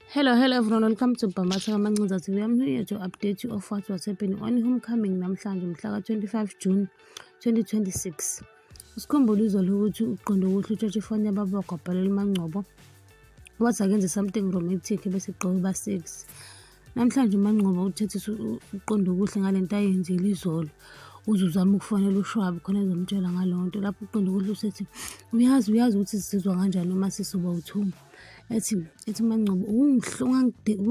Hello, hello everyone. Welcome to Bhamatha Kamancinza TV. I'm here to update you of what was happening on homecoming namhlanje mhla ka-25 June 2026. Usikhumbule izolo ukuthi uqonde ukuthi utshotshe ifoni yababa wagwabhalela uMangcobo wathi akenze something romantic bese gqoke uba-six. Namhlanje uMangcobo uthethisa ukuqonda okuhle ngale nto ayenzile izolo uze uzame ukufonela ushwabi khona ezomtshela ngaleyo nto lapho uqonda ukuthi usethi uyazi uyazi ukuthi sizizwa kanjani uma sisuba uthuma ethi ethi mangcobo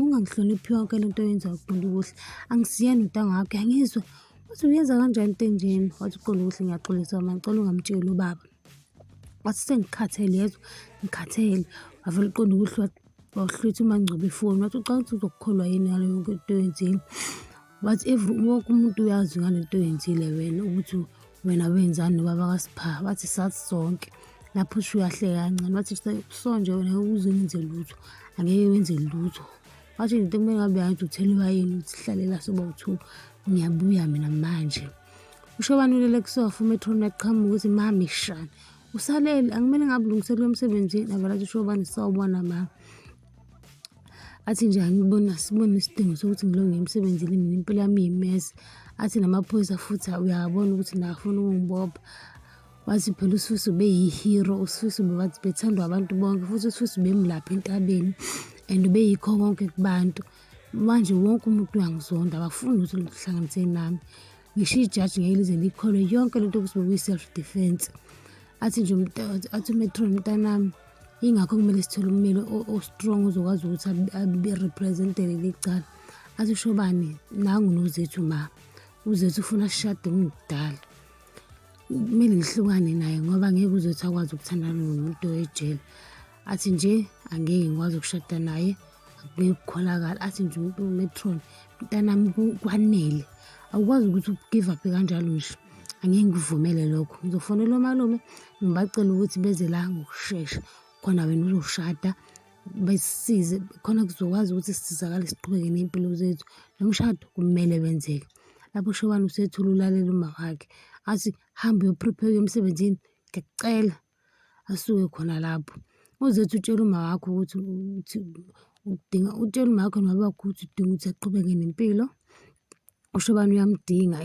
ungangihloniphi yonke le nto yenza uqonda ukuthi angisiyena untanga wakhe angizwa wathi uyenza kanjani into enjeni wathi uqonda ukuthi ngiyaxolisa ma ngicela ungamtsheli ubaba wathi sengikhathele yezwa ngikhathele wavele uqonda ukuthi wawuhlwitha umangcwaba ifoni wathi ucanga ukuthi uzokukholwa yini ngale yonke into oyenzile but every wonke umuntu uyazi ngale nto oyenzile wena ukuthi wena wenzani nobaba kasipha bathi sathi sonke lapho usho uyahleka kancane bathi sonje wena uze wenze lutho angeke wenze lutho wathi into kumele ngabe yathi utheliwa yini ukuthi hlalela soba uthu ngiyabuya mina manje usho bani ulele kusofa umetron uyaqhamuka ukuthi mami shani usalele akumele ngabe ulungiselela emsebenzini avela athi usho bani sawubona mama athi nje angibona sibona isidingo sokuthi ngilonge emsebenzini mina impilo yami yimesi athi namaphoyisa futhi uyabona ukuthi nafuna ukungibopha wathi phela ususu beyi-hero ususu bebathi bethandwa abantu bonke futhi ususu bemlapha entabeni and ubeyikho konke kubantu manje wonke umuntu uyangizonda abafuni ukuthi luhlanganiseni nami ngisho ijaji ngeke lize likholwe yonke lento ukuthi bekuyi-self defense athi nje athi umetron mntanami ingakho kumele sithole ummeli ostrong ozokwazi ukuthi abe-representele licala athi ushobani nangu nozethu ma uzethu ufuna ashade ngidala kumele ngihlukane naye ngoba ngeke uzethu akwazi ukuthandana nomuntu ejele athi nje angeke ngikwazi ukushada naye akungeke kukholakala athi nje umuntu umetron mntanami kwanele awukwazi ukuthi ugive up kanjalo nje angeke ngikuvumele lokho ngizofonela omalume ngibacela ukuthi beze la ngokushesha khona wena uzoshada besisize khona kuzokwazi ukuthi sisizakale siqhubeke ney'mpilo zethu lo mshado kumele wenzeke lapho ushobani usethula ulalela uma wakhe athi hambe uyoprepare emsebenzini ngiyakucela asuke khona lapho. Uzothi utshela umawakho ukuthi ukuthi udinga utshela umakho nobabakho ukuthi udinga ukuthi aqhubeke nempilo. Usho ubani uyamdinga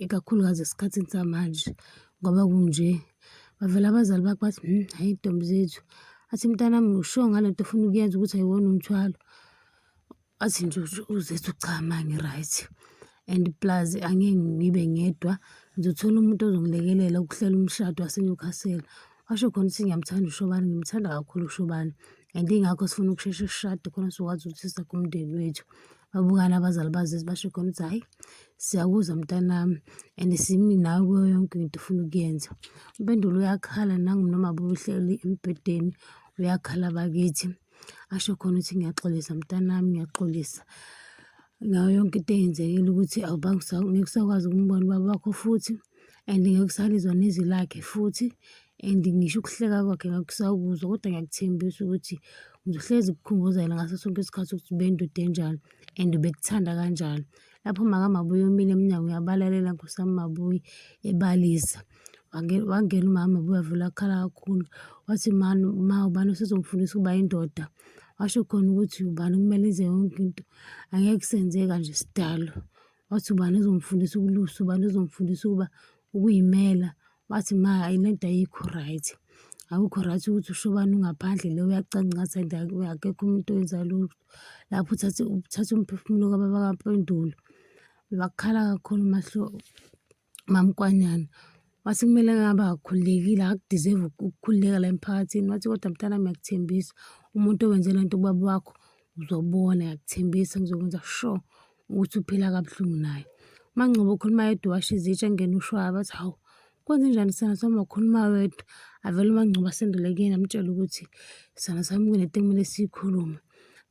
ikakhulukazi esikhathini samanje ngoba kunje. Bavele abazali bakho bathi hmm, hhayi ntombi zethu athi mntanami usho ngale nto ofuna ukuyenza ukuthi ayiwona umthwalo. athi nje uzethu cha ma ngi-right and plus angeke ngibe ngedwa ngizothola umuntu ozongilekelela ukuhlela umshado waseNewcastle washo khona ukuthi ngiyamthanda uShobane ngimthanda kakhulu uShobane and ingakho sifuna ukusheshe sishade khona sizokwazi ukuthi siza kumndeni wethu babukane abazali bazezi basho khona ukuthi hhayi siyakuzwa mntanami and simi nawe kuyo yonke into ufuna ukuyenza umpendulo uyakhala nangumnoma bubuhleli embhedeni uyakhala bakithi asho khona ukuthi ngiyaxolisa mntanami ngiyaxolisa ngayo yonke into eyenzekile ukuthi ngikusakwazi ukumbona ubaba wakho futhi and ngikusalizwa nezwi lakhe futhi and ngisho ukuhleka kwakhe ngakusakuzwa kodwa ngiyakuthembisa ukuthi ngizohlezi kukhumbuzela ngaso sonke isikhathi ukuthi ubendude enjani and ubekuthanda kanjani lapho makamabuyi omile emnyango uyabalalela nkosi yami mabuyi ebalisa wangena umama buyavula akhala kakhulu wathi mani ma ubani usezongifundisa ukuba indoda washo khona ukuthi ubani kumele enze yonke into angeke kusenzeka nje sidalo wathi ubani uzongifundisa ukulusa ubani uzongifundisa ukuba ukuyimela wathi ma le nto ayikho right akukho right ukuthi ushobane ungaphandle le uyacancaza and akekho umuntu owenza lutho lapho uthathe umphefumulo kababa kampendulo bakhala kakhulu umahlobo Mamkwanyana wathi kumele ngabe akakhululekile akudeserve ukukhululeka la emphakathini wathi kodwa mntana ngiyakuthembisa umuntu owenze le nto ubaba wakho uzobona ngiyakuthembisa ngizokwenza sure ukuthi uphila kabuhlungu naye mangcobo ukhuluma yedwa washo izitsha engena ushwaya bathi hawu kwenze njani sana sami wakhuluma wedwa avele umangcobo asendele kuyena amtshele ukuthi sana sami kunento ekumele siyikhulume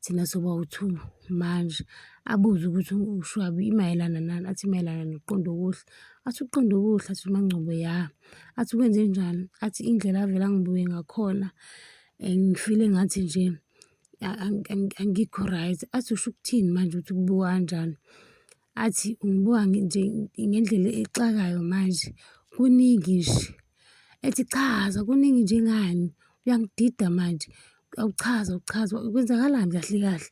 thina soba u-two manje, abuze ukuthi uShwabi imayelana nani, athi imayelana nokuqonda okuhle, athi ukuqonda okuhle, athi uMaNgcobo ya, athi kwenzenjani, athi indlela avele angibuke ngakhona eh, ngifile ngathi nje angikho right, athi usho ukuthini manje ukuthi kubuka kanjani. athi ungibuka nje ngendlela exakayo manje kuningi nje ethi chaza kuningi nje ngani uyangidida manje awuchaza awuchaza kwenzakalani kahle kahle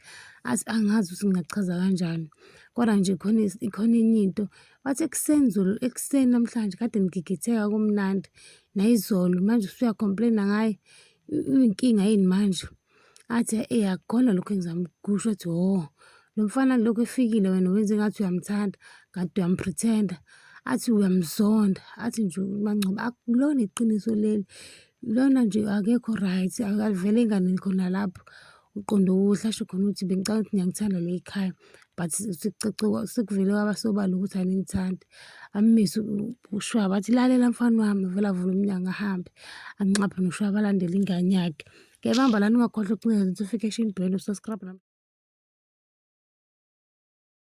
athi angazi ukuthi ngingachaza kanjani kodwa nje khona ikhona enye into wathi ekuseni zolo ekuseni namhlanje kade ngigigitheka kumnandi nayizolo manje usuya complain-a ngaye uyinkinga yini manje. athi eyi akukona lokhu engizama ukusho athi hho oh, lo mfana lokhu efikile wena wenze ngathi uyamthanda ngathi uyampretender athi uyamzonda athi nje uMangcobo akulona iqiniso leli lona nje akekho right akavele ingane khona lapho uqondo okuhle asho khona ukuthi bengicabanga ukuthi ngiyakuthanda le khaya but sekuvele kwaba sobala ukuthi aningithandi amise ushwaba athi lalela mfana wami vele avule umnyango ahambe anxaphe noshwaba alandele ingane yakhe Ngiyabamba lana ungakhohlwa ukucinga notification bell usubscribe nami.